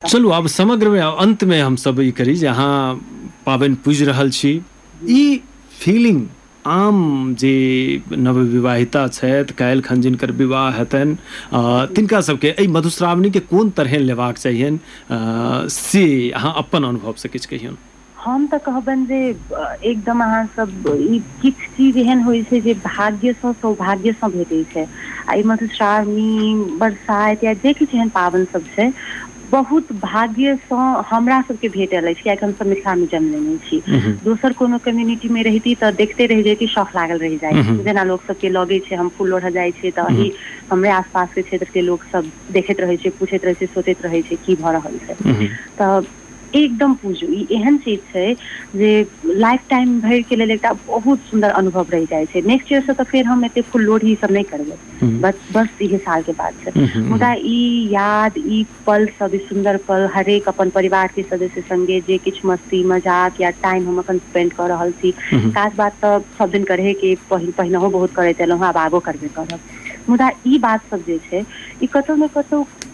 चलू आब समग्रमे आ अन्तमे हमसभ ई करी जे अहाँ पाबनि पूजि रहल छी ई फीलिंग आम जे नवविवाहिता छथि काल्हि खन जिनकर विवाह हेतनि अ, तिनका सभके एहि मधुश्रावणीके कोन तरहें लेबाक चाहियनि अ, से अहाँ अपन अनुभवसँ किछु कहियौन हम तऽ कहबनि जे एकदम अहाँ सब ई किछ चीज एहन होइ छै जे भाग्य सँ सौभाग्य सँ भेटै छै आ ई मधुश्रावणी बरसाइत या जे किछु एहन पाबनि सब छै बहुत भाग्य सँ हमरा सबके भेटल अछि कियाकि हम सब मिथिला मे जन्म लेने छी दोसर कोनो कम्युनिटी मे रहिती तऽ देखते रहि जती शौख लागल रहि जाय जेना लोक सब के लगे छै हम फूल लोढ़ऽ जाइ छियै तऽ अही हमरे आस पास के क्षेत्र के लोक सब देखैत रहै छै पूछैत रहै छै सोचैत रहै छै की भऽ रहल छै तऽ एकदम पूजू ई एहन चीज छै जे लाइफ टाइम भर के लेल एकटा बहुत सुन्दर अनुभव रहि जाइ छै नेक्स्ट ईयर से तऽ फेर हम एते फुल लोढ़ी सब नहि करबै बस बस इहे साल के बाद छै मुदा ई याद ई पल सब ई सुन्दर पल हरेक अपन परिवार के सदस्य संगे जे किछु मस्ती मजाक या टाइम हम अखन स्पेंड कऽ रहल छी खास बात तऽ सब दिन करहे के पहि पहिनहो बहुत करैत एलहुँ हेँ आब आगो करबे करब मुदा ई बात सब जे छै ई कतौ ने कतौ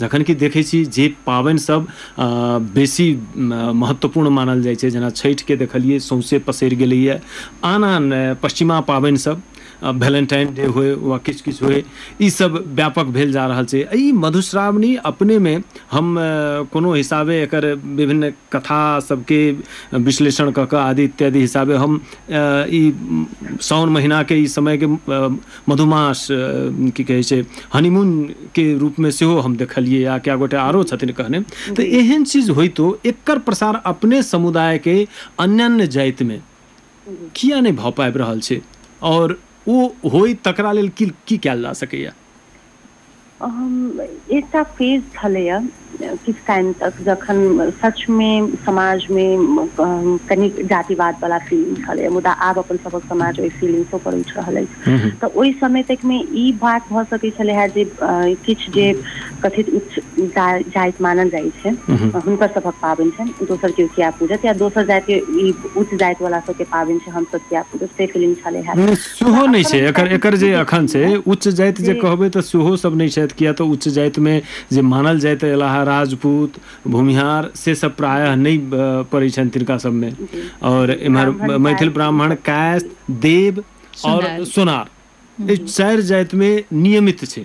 जखन कि देखै छी जे पाबनि सभ अ बेसी महत्वपूर्ण मानल जाइ छै जेना छठि के देखलियै सौंसे पसरि गेलैए आन आन पश्चिमा पाबनि सभ भेलेन्टाइन डे होय वा किछु किछु होय ई सभ व्यापक भेल जा रहल छै एहि मधुश्रावणी अपने मे हम कोनो हिसाबे एकर विभिन्न कथा सभ के विश्लेषण कऽ कऽ आदि इत्यादि हिसाबे हम ई साओन महिना के ई समय के मधुमास अ, की कहै छै हनीमून के रूप में सेहो हम देखलिए आ क्या गोटे आरो छथिन कहने तो जी एहन चीज होइतो एकर प्रसार अपने समुदाय के अन्यान्य जाति में जी किया नहि भऽ पाबि रहल छै आओर ओ होय तकरा लेल की की कयल जा सकैया एकटा फेज छलैए किछु टाइम तक जखन सचमे समाजमे कनि जातिवाद वाला फीलिंग छलैए मुदा आब अपन सभक समाज ओहि फीलिंगसँ पर उठि रहल अछि तऽ ओहि समय तकमे ई बात भऽ सकैत छलै हे जे किछु जे कथित उच्च जाइत मानल जाइत छै हुनकर सभक पाबनि छनि दोसर केओ किया पूजत या दोसर जाति ई उच्च जाति वाला सबके पाबनि छै हमसभ किया पूजब से फीलिंग छलै हे मुदा सेहो नहि छै अपनन एकर एकर जे संस्कृतिके अखन छै उच्च जाइत जे जी कहबै तऽ सेहो सब नहि छथि किया तऽ उच्च जाइत मे जे मानल जाइत एल हे राजपूत भूमिहार से सब प्रायः जी नहि पड़ै छनि तिनका सभमे जी आओर जी एम्हर ब्राह्मण काज मैथिल ई ब्राह्मण सब कायस्थ जी देव आओर सुनार सोनार ई जी चारि जातिमे नियमित छै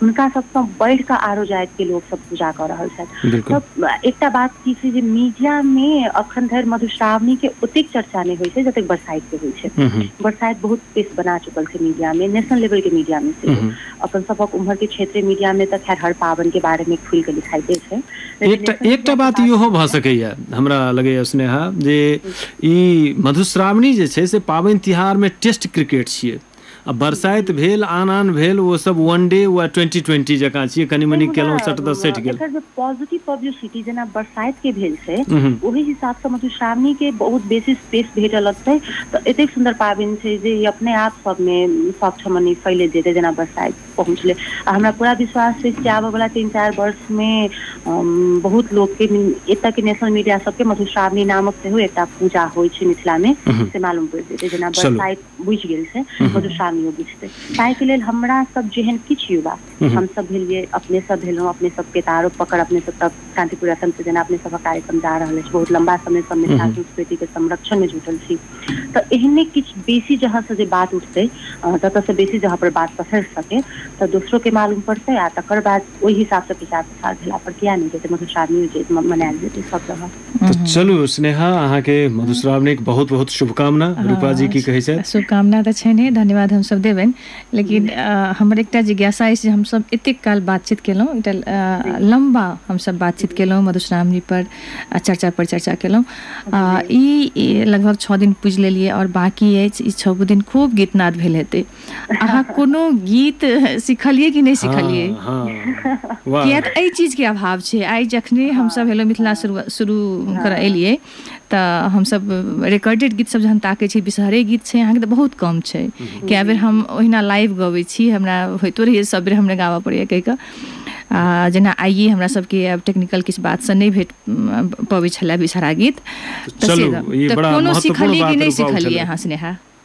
हुनका सबसँ बढ़ि कऽ आरो जातिके लोकसभ पूजा कऽ रहल छथि बिल्कुल तऽ एकटा बात की छै जे मीडियामे अखन धरि मधुश्रावणीके ओतेक चर्चा नहि होइत छै जतेक बरसाइतके होइत छै हम्म, हम्म, बरसाइत बहुत स्पेस बना चुकल छै मीडियामे नेशनल लेवलके मीडियामे सेहो हम्म। अपन सभक उम्हरके क्षेत्रीय मीडियामे तऽ खैर हर पाबनिके बारेमे खुलि कऽ लिखाइते छै लेकिन एकटा नेशनल एकटा मीडियाके बात बात इहो भऽ छै सकैए हमरा लगैए स्नेहा जे ई मधुश्रावणी जे छै से पाबनि तिहारमे टेस्ट क्रिकेट छियै आ बरसाइत भेल आन आन भेल ओ सब वन डे वा ट्वेंटी ट्वेंटी जकाँ छियै कनि नहि मनि मुदा केलहुँ सट दस सटि गेल एकर जे पॉजिटिव पब्लिसिटी जेना बरसाइत के भेल छै उहूँ ओहि हिसाब सँ मधुश्रावणी के बहुत बेसी स्पेस भेट लगतै तऽ एतेक सुन्दर पाबनि छै जे ई अपने आप सब मे सब ठमन मने फैलैत जेतै जेना बरसाइत पहुँचलै आ हमरा पूरा विश्वास छै कि आबय वला तीन चारि वर्ष मे बहुत लोक के एतय के नेशनल मीडिया सब के मधुश्रावणी नामक सेहो एकटा पूजा होइ छै मिथिला मे उहूँ से मालूम पड़ि जेतै जेना चलू बरसाइत बुझि गेल छै मधुश्रावणियो बुझतै ताहिके लेल हमरा सब जेहन किछु युवा हमसभ भेलियै अपने सब भेलहुँ अपने सबके तऽ आरो पकड़ अपने सब तब शान्तिपुर एफएम से जेना अपने सबक कार्यक्रम जा रहल अछि बहुत लम्बा समय सँ मिथिला संस्कृति के संरक्षण मे जुटल छी तऽ एहने किछु बेसी जहाँ से जे बात उठतै अ ततऽ सँ बेसी जहाँ पर बात पसरि सकै तऽ दोसरो के मालूम पड़तै आ तकर बाद ओहि हिसाब सँ प्रचार प्रसार भेला पर किया नहि जेतै मधुश्रावणियो जे मनायल जेतै सब जगह तऽ चलू स्नेहा अहाँके मधुश्रावणीके बहुत बहुत शुभकामना रूपा जी की कहै छथि कामना तऽ छनि हे धन्यवाद हमसभ देबनि लेकिन हमर एकटा जिज्ञासा अछि जे हमसभ एतेक काल बातचीत केलहुँ एकटा लम्बा हमसभ बातचीत केलहुँ मधुश्रावणी पर आ चर्चा पर चर्चा केलहुँ आ ई लगभग छओ दिन पुजि लेलियै आओर बाँकी अछि ई छओ दिन खूब गीतनाद भेल हेतै अहाँ कोनो गीत सिखलियै कि नहि सिखलियै हँ हँ वाह किया तऽ एहि चीज के अभाव छै आइ जखने हम सब हँ हेलो मिथिला हँ शुरू शुरू करऽ हँ एलियै तऽ हमस रिकॉर्डेड गीत सब जहन ताके छी विषहरे गीत छै अहाँ के तऽ बहुत कम छै हम्म, कए बेर जी हम जी ओहिना लाइव गबै छी हमरा होइतो रहैया सब बेर हमरा गाबऽ पड़ैया कहि कऽ आ जेना आइए हमरा सब के आब टेक्निकल किछ बात सँ नहि भेट पबै छलए विषहरा गीत तऽ से चलू ई तऽ बड़ा कोनो महत्वपूर्ण सिखलियै कि बात नहि रूपा सिखलियै उठेलथि अहाँ स्नेहा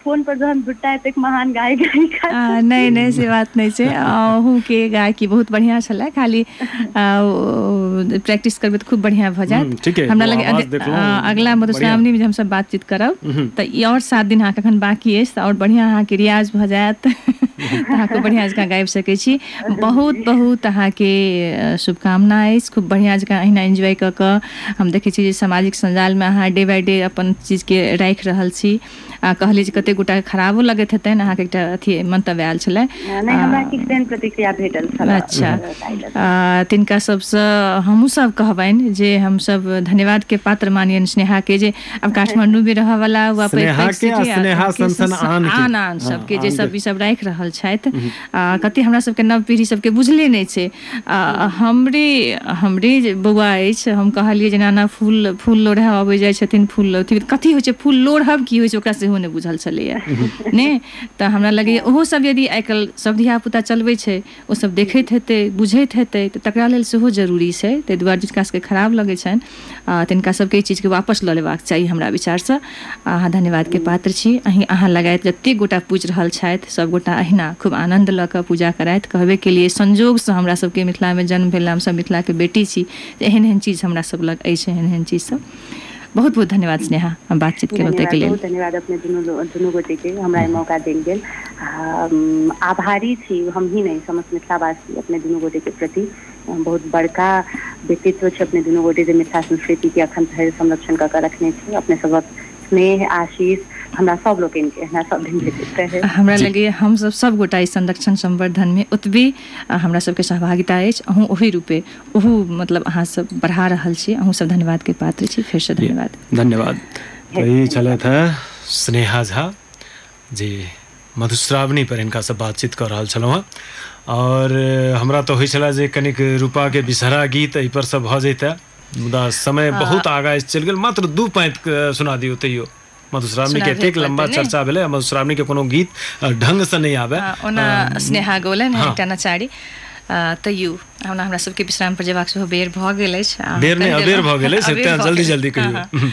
फोन पर जहन जुटा एतेक महान गाय गाय अ नहि नहि से बात नहि छै अहूँ के गायकी बहुत बढ़िया छले खाली प्रैक्टिस करबै तऽ खूब बढ़िया भऽ हूँ, जायत ठीके हमरा ओ लग आवाज देखलहुँ अगिला बढ़िआँ मधुश्रावणी मे जे हमसब बातचीत करब हूँ, तऽ ई आओर सात दिन अहाँके एखन बाँकी अछि तऽ आओर बढ़िआँ अहाँके रियाज भऽ जायत तऽ अहाँ खूब बढ़िआँ जकाँ गाबि सकैत छी बहुत जी बहुत अहाँके शुभकामना अछि खूब बढ़िआँ जँकाँ अहिना एन्जॉय कऽ कऽ हम देखै छी जे सामाजिक सञ्जालमे अहाँ डे बाइ डे अपन चीजके राखि रहल छी आ कहली जे कते गोटा के खराबो लगैत हेतैन अहाँ के एकटा अथी मंतव्य आएल छले नहि हमरा किछु तेहन प्रतिक्रिया भेटल छलए अच्छा ताहि लऽ कऽ आ तिनका सब से हमु सब कहबैन जे हम सब धन्यवाद के पात्र मानियैन स्नेहा के जे आब काठमाण्डु मे रहऽ वाला वा पैघ स्नेहा पैघ के आ सिटी आ स्नेहा के सन सन आन के। आन आन हँ, सब के जे आन सब के। ई सब राएख रहल छैथ आ कते हमरा सब के नव पीढ़ी सब के बुझले नै छै आ हूँ हमरे हमरे जे बौआ अछि हम कहलियै जेना एना फूल फूल लोढ़य अबैत जाइत छथिन फूल लोढ़थिन कथी होइ छै फूल लोढ़ब की होइ छै ओकरा सेहो नहि बुझल छलैया ने तऽ हमरा लगैय हँ ओहो सब यदि आइ काल्हि सब धिया पुता चलबै छै ओसभ देखैत हेतै बुझैत हेतै तऽ तकरा लेल सेहो जरूरी छै ताहि दुआरे जिनका सभके खराब लगै छनि आ, तिनका सबके ई चीजके वापस लऽ लेबाक चाही हमरा विचारसँ अहाँ धन्यवादके पात्र छी अहीं अहाँ लगायत जतेक गोटा पूजि रहल छथि सभगोटा अहिना खूब आनन्द लऽ कऽ पूजा करथि कहबे केलिए संजोगसँ हमरा सबके मिथिलामे जन्म भेल हमसभ मिथिलाके बेटी छी तऽ एहन एहन चीज हमरा सब लग अछि एहन एहन चीज सब बहुत बहुत धन्यवाद स्नेहा हम बातचीत केलहुँ धन्यवाद ताहिके लेल बहुत धन्यवाद अपने दुनू लो- दुनू गोटे के हमरा ई मौका देल गेल आ, उम, आभारी छी हमही नहि समस्त मिथिलावासी अपने दुनू गोटे के प्रति बहुत बड़का व्यक्तित्व छै अपने दुनू गोटे जे मिथिला संस्कृति के अखन धरि संरक्षण कऽ के रखने छी अपने सबक स्नेह आशीष हमरा सब लोकनि के हमरा सब दिन भेटैत रहै हमरा जी लगैए हमसभ सभगोटा ई संरक्षण संवर्धनमे ओतबे आ, हमरा सभके सहभागिता अछि अहूँ ओहि रूपे ओहू मतलब अहाँसभ बढ़ा रहल छी अहूँसभ धन्यवादके पात्र छी फेरसँ धन्यवाद धन्यवाद तऽ ई छलथि हे स्नेहा झा जी मधुश्रावणी पर हिनका से बातचीत कऽ रहल छलहुँ हँ और हमरा तऽ होइ छला जे कनिक रूपा के बिसहरा गीत एहि पर से भऽ जैते मुदा समय बहुत आगा चलि गेल मात्र दू पाँत के सुना दियौ तैयो मधुश्रावणी सुना के दिअ एतेक पाँति, लंबा ने? चर्चा भेलै आ मधुश्रावणी के कोनो गीत अ, ढंग से नहि आबे आ, ओना स्नेहा गोलन है हाँ। एकटा नचारी आ, तैयो हमरा हमरा सबके विश्राम पर जेबाक सेहो बेर भऽ गेल अछि आ, बेर नहि कहि अबेर देलहुँ। भऽ गेलै से अबेर तें भऽ जल्दी गेल। जल्दी हाँ, कहियौ हाँ।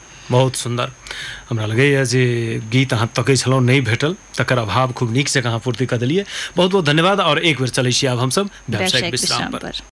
बहुत सुन्दर हमरा लगैए जे गीत अहाँ तकै छलहुँ नहि भेटल तकर अभाव खूब नीक जकाँ अहाँ पूर्ति कऽ देलियै बहुत बहुत धन्यवाद आओर एक बेर चलै छी आब हमसभ व्यावसायिक व्यावसायिक विश्राम विश्राम पर पर